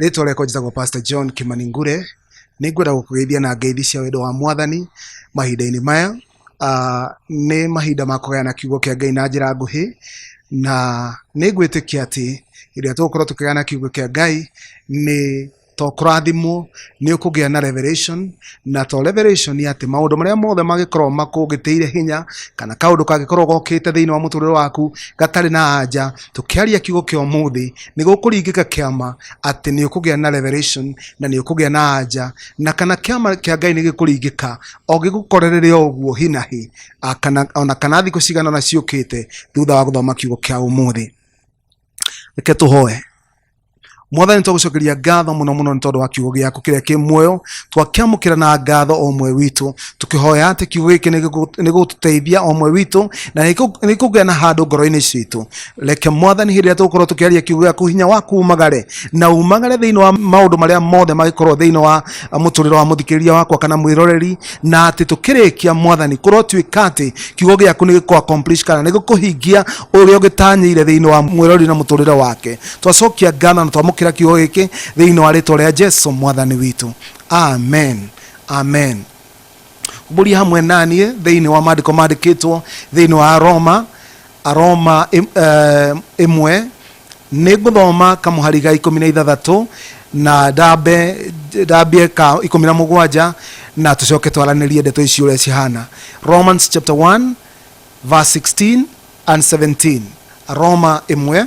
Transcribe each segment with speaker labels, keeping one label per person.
Speaker 1: rĩtwa rĩakwa njĩtagwo pastor john kimaningure nĩ ngwenda gũkũgeithia na ngeithi cia wendo wa mwathani mahinda-inĩ maya uh, nĩ mahinda ma kũgayana kiugo kĩa ngai na njĩra nguhĩ na nĩ ngwĩtĩkia atĩ ĩrĩa tũgũkorwo tũkĩgayana kiugo kĩa ngai nĩ tokũrathimwo nĩ ũkũgĩa na revelation na to revelation atĩ maũndũ marĩa mothe mangĩkorwo makũgĩtĩire hinya kana kaũndũ kangĩkorwo gokĩte thĩinĩ wa mũtũrĩre waku gatarĩ na anja tũkĩaria kiugo kĩa ũmũthĩ nĩ gũkũringĩka kĩama atĩ nĩ ũkũgĩa na revelation na nĩ ũkũgĩa na anja na kana kĩama kĩa ngai nĩ gĩkũringĩka o gĩgũkorerere o ũguo hi na hi a, kana, ona kana thikũ cigana na ciũkĩte thutha wa gũthoma kiugo kĩa ũmũthĩ reke tũhoe mwathani twagucokeria ngatho muno muno ni tondu wa kiugo giaku kiria ki muoyo twakiamukira na ngatho o mwe witu tukihoya ati kiugo giki ni gigututeithia o mwe witu na ni gikugia na handu ngoro-ini citu reke mwathani hindi iria tugukorwo tukiaria kiugo giaku hinya waku umagare na umagare thiini wa maundu maria mothe magikorwo thiini wa muturiro wa muthikiriria wakwa kana mwiroreri na ati tukirikia mwathani korwo tuika ati kiugo giaku ni gikuaccomplish kana ni gikuhingia uria ugitanyire thiini wa mwiroreri na muturire wake twacokia ngano na twamũkĩra kiugo gĩkĩ thĩinĩ wa rĩtwa rĩa jesu mwathani witũ amen amen mbũria hamwe naniĩ thĩinĩ wa maandĩko mandĩkĩtwo thĩinĩ wa aroma aroma ĩ- eh, ĩmwe nĩ ngũthoma kamũhari ga ikũmi na ithathatũ na ndambe ndambie ka ikũmi na mũgwanja na tũcoke twaranĩrie ndeto ici ũrĩa cihana romans chapter 1 verse 16 and 17 roma ĩmwe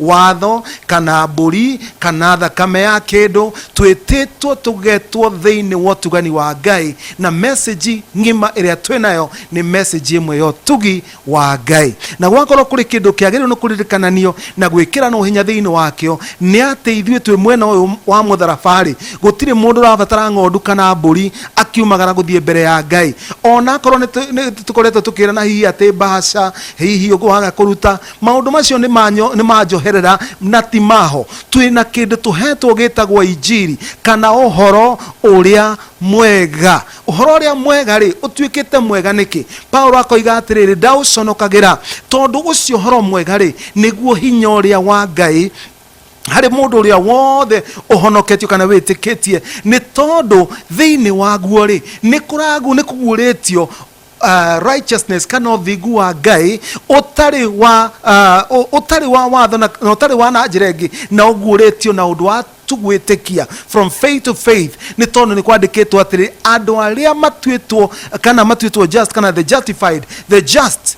Speaker 1: watho kana mbũri kana thakame ya kĩndũ twĩtĩtwo tũgetwo thĩinĩ wa ũtugani wa ngai na message ng'ima ĩrĩa twĩ nayo nĩ message ĩmwe ya ũtugi wa ngai na gwakorwo kũrĩ kĩndũ kĩagĩrĩirwo nĩ kũririkananio na gwĩkĩranwo hinya thĩinĩ wakĩo nĩ atĩ ithuĩ twĩ mwena ũyũ wa mũtharabarĩ gũtirĩ mũndũ ũrabatara ng'ondu kana mbũri akiumagara gũthiĩ mbere ya ngai ona akorwo nĩ tũ- nĩ tũkoretwo tũkĩrana hihi atĩ mbaca hihi ũguo waga kũruta maundu macio nĩ manyo- nĩ manjoherera na ti maho twĩ na kĩndũ tũhetwo gĩtagwo injiri kana ũhoro ũrĩa mwega ũhoro ũrĩa mwega rĩ ũtuĩkĩte mwega nĩkĩ paulo akoiga atĩrĩrĩ ndaũconokagĩra tondũ ũcio ũhoro mwega rĩ nĩguo hinya ũrĩa wa ngai harĩ mũndũ ũrĩa wothe ũhonoketio kana wĩtĩkĩtie nĩ tondũ thĩinĩ waguo rĩ nĩ kũragu nĩ kũguũrĩtio Uh, righteousness kana ũthingu wa ngai ũtarĩ wa uh, ũ- ũtarĩ wa watho na na ũtarĩ wa na njĩra ĩngĩ na ũguũrĩtio na ũndũ wa tugwĩtĩkia from faith to faith nĩ tondũ nĩ kwandĩkĩtwo atĩrĩ andũ arĩa matuĩtwo kana matuĩtwo just kana the justified the just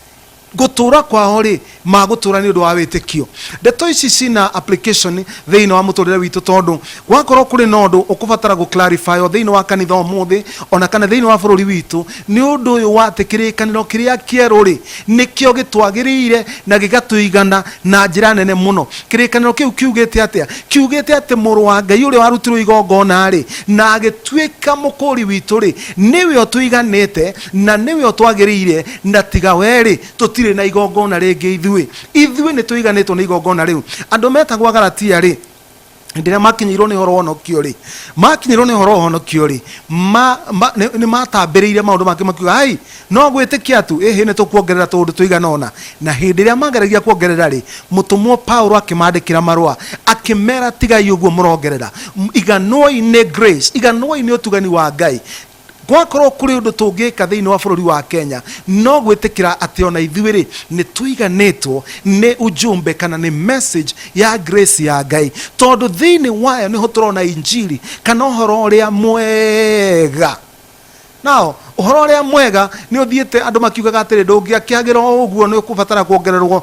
Speaker 1: gũtũũra kwao rĩ magũtũũra nĩ ũndũ wa wĩtĩkio ndeto ici cina application thĩinĩ wa mũtũrĩre witũ tondũ gwakorwo kũrĩ na ũndũ ũkũbatara gũ clarify o thĩinĩ wa kanitha ũmũthĩ ona kana thĩinĩ wa bũrũri witũ nĩ ũndũ ũyũ wa atĩ kĩrĩkanĩro kĩrĩa kĩerũ rĩ nĩkĩo gĩtwagĩrĩire na gĩgatũigana na njĩra nene mũno kĩrĩkanĩro kĩu kiugĩte atĩa kiugĩte atĩ mũrũ wa ngai ũrĩa warutirwo igongona rĩ na agĩtuĩka mũkũũri witũ rĩ nĩwe ũtũiganĩte na nĩwe o twagĩrĩire na tiga wee-rĩ, tũtirĩ na igongona rĩngĩ ithuĩ, ithuĩ nĩtũiganĩtwo nĩ igongona rĩu. Andũ metagwo Agalatia-rĩ, hĩndĩ ĩrĩa makinyĩirwo nĩ ũhoro wa ũhonokio-rĩ, makinyĩirwo nĩ ũhoro wa ũhonokio-rĩ, ma, ma, nĩ- nĩmatambĩrĩire maũndũ mangĩ makiuga, ai, no gwĩtĩkia tu, ĩhĩ nĩtũkuongerera tũũndũ tũigana ũna. Na hĩndĩ ĩrĩa mageragia kuongerera-rĩ, mũtũmwo Paulo akĩmandĩkĩra marũa, akĩmera tigai ũguo mũrongerera, M- iganwo-i nĩ grace, iganwo-i nĩ ũtugani wa Ngai, Gwakorũo kũrĩ ũndũ tũngĩka thĩinĩ wa bũrũri wa Kenya, no gwĩtĩkĩra atĩ o na ithuĩ-rĩ, nĩ tũiganĩtwo nĩ ujumbe kana nĩ message ya grace ya Ngai, tondũ thĩinĩ wayo nĩho tũrona Injiri kana ũhoro ũrĩa mwega. Now, ũhoro ũrĩa mwega nĩ ũthiĩte andũ makiugaga atĩrĩ, ndũngĩakĩagĩra o ũguo, nĩ ũkũbatara kuongererũo.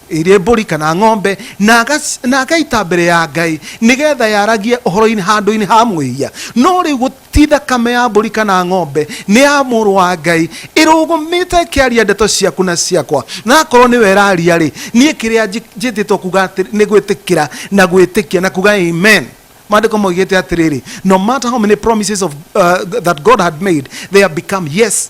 Speaker 1: irĩ mbũri kana ng'ombe na agas- na agaita mbere ya ngai nĩgetha yaragie ũhoro-inĩ handũ-inĩ ha mwĩhia no rĩu gũti thakame ya mbũri kana ng'ombe nĩ ya mũrũ wa ngai ĩrũgũmĩte ĩkĩaria ndeto ciaku na ciakwa na akorwo nĩ weraria rĩ niĩ kĩrĩa njĩ- njĩtĩtwo kuga atĩ nĩ gwĩtĩkĩra na gwĩtĩkia na kuga amen maandĩko maugĩte atĩrĩrĩ no matter how many promises of, uh, that god had made they have become yes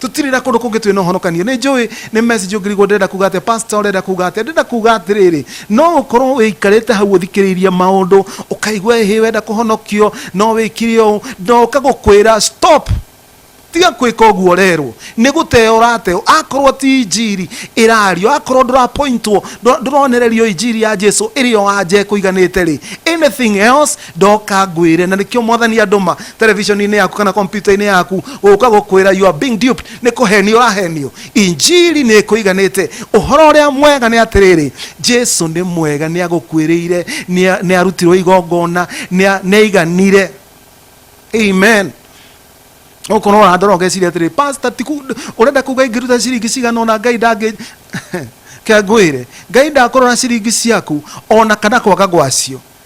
Speaker 1: tũtirĩ na kũndũ kũngĩ twĩ na ũhonokanio nĩ njũĩ nĩ message ũngĩrigwo ndĩrenda kuga atĩa pastor ũrenda kuga atĩa ndĩrenda kuga atĩrĩrĩ no ũkorwo wĩikarĩte hau ũthikĩrĩirie maũndũ ũkaigua ĩhĩ wenda kũhonokio no wĩkire ũũ ndoka gũkwĩra stop tiga kwĩka ũguo ũrerwo nĩ gũteo ũrateo akorwo ti injiri ĩrario akorwo ndũrapointwo ndũ- ndũronererio injiri ya jesu ĩrĩ o anja ĩkũiganĩte rĩ anything else ndoka ngwire na nikio mwathani anduma television-inĩ yaku kana kompyuta-inĩ yaku gũka gũkwĩra you are being duped nĩ kũhenio ũrahenio injiri nĩ ĩkũiganĩte ũhoro ũrĩa mwega nĩ atĩrĩrĩ jesu nĩ mwega nĩ agũkuĩrĩire nĩ nĩ arutirwo igongona nĩ a- nĩ aiganire amen okorwo ũrandora ũgeciria atĩrĩ pasta tiku ũrenda kuga ingĩruta ciringi cigana ona ngai ndangĩ kangwĩre ngai ndakũrora ciringi ciaku ona kana kwaga gwacio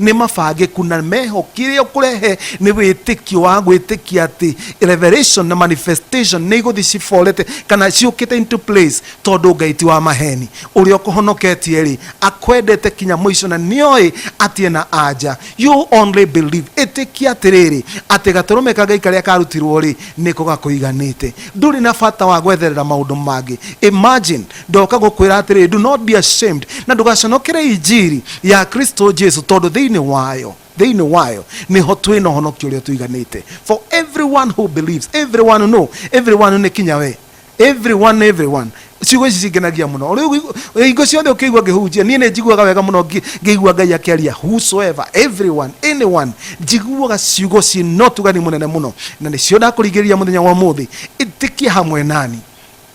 Speaker 1: nĩ mabangĩku na meho kĩrĩa ũkũrehe nĩ wĩtĩkio wa gwĩtĩkia atĩ revelation na manifestation nĩ igũthi ciborete kana ciũkĩte into place tondũ ngai ti wa maheni ũrĩa ũkũhonoketie rĩ akwendete kinya mũico na nĩoĩ atĩ ena anja you only believe ĩtĩkia atĩrĩrĩ atĩ gatũrũme ka ngai karĩa karutirwo rĩ nĩko gakũiganĩte ndũrĩ na bata wa gwetherera maũndũ mangĩ imagine ndoka gũkwĩra atĩrĩ do not be ashamed na ndũgaconokere injiri ya kristo jesu tondũ thĩinĩ wayo thĩinĩ wayo nĩho twĩ na ũhonokio ũrĩa tũiganĩte for everyone who believes everyone no everyone nĩ kinya we everyone everyone ciugo ici cingenagia mũno Rĩu igũ- hingo ciothe ũkĩigua ngĩhunjia niĩ nĩ njiguaga wega mũno ngĩ- ngĩigua ngai akĩaria whosoever everyone anyone njiguaga ciugo ciĩ na ũtugani mũnene mũno na nĩcio ndakũringĩrĩria mũthenya wa mũthĩ ĩtĩkia hamwe nani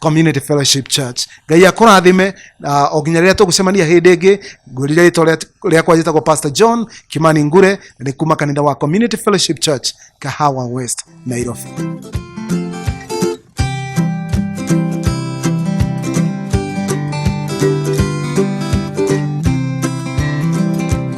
Speaker 1: community fellowship church ngai akũrathime na o nginya rĩrĩa tũgũcemania hĩndĩ ĩngĩ ngwĩrire rĩtwa rĩa- rĩakwa njĩtagwo pastor john kimani ngure na nĩ kuma kanitha wa community fellowship church kahawa west nairobi